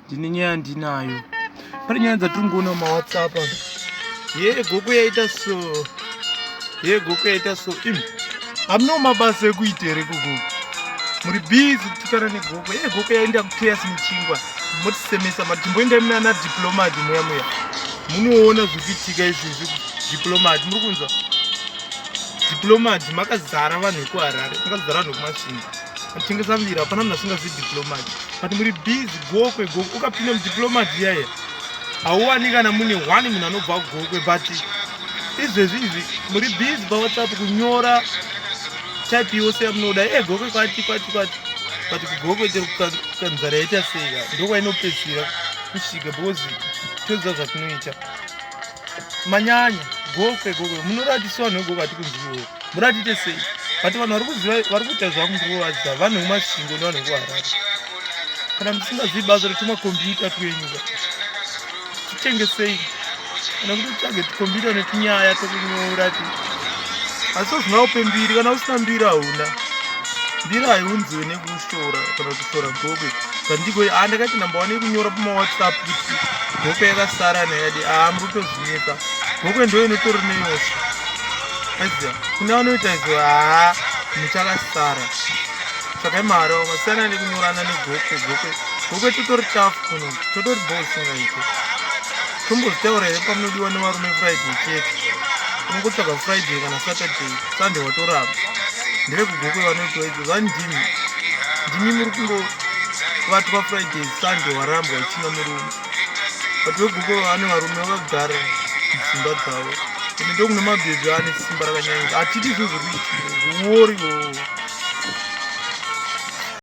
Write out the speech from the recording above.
ndine nyaya ndinayo pane nyaya dzatiri ngoona mawhatsapp ye gogo yaita so ye gogo yaita so im hamno mabasa ekuita here gogo muri bizi kutukana negogo ye gogo yaenda kuteas muchingwa motisemesa mati timboenda munana diplomat muya muya munoona zvikuitika izvizvi diplomat muri kunzwa diplomat makazara vanhu vekuharare makazara vanhu vekumasvinga tengesa mvira hapana munhu asingazivi diplomaty but muri busy gokwe gokwe ukapinda mudiplomaty yaye hauwani kana mune one munhu anobva gokwe but izvezvi izvi muri busy pawhatsapp kunyora type yose yamunoda e eh, gokwe kwati kwati kwati but kugokwe chero kukanzara yaita seka ndokwainopedzisira kusvika because toziva zvatinoita manyanya gofe gofe munoratisa vanhu vegogo ati kunziwo muratite sei but vanhu vari kuziva vari kuita zvamukuvaziva vanhu vemasvingo nevanhu vekuharare kana musingazivi basa retuma kombiyuta twenyuka titengesei kana kuti tsvage tikombiyuta netunyaya tokunyora ti asi ozvina upe mbiri kana usina mbiri hauna mbiri haiunziwe nekusi tora kana kuti tora gokwe zvandiko haa ndakati namba wane kunyora pamawhatsapp kuti gokwe yakasara nayadi haa muri kutozvineka gokwe ndo inotori neyosha aziva kune vanoita ziva haa muchakasara tsvakai mahara vakasiyana nekunyorana negokwe gokwe gokwe totori chafu kuno totori bosingaite tombozitaura here pamunodiwa nevarume friday chete unongotsvaga friday kana saturday sunday watoramba ndevekugokwe vanotiwa vandimi ndimi muri kungovatwa friday sunday warambwa uchina murume but vegogo vane varume vagara dzimba dzavo ende ndokune mabhebhi ane simba rakanyanya hatiti zvezvekuiti uori oo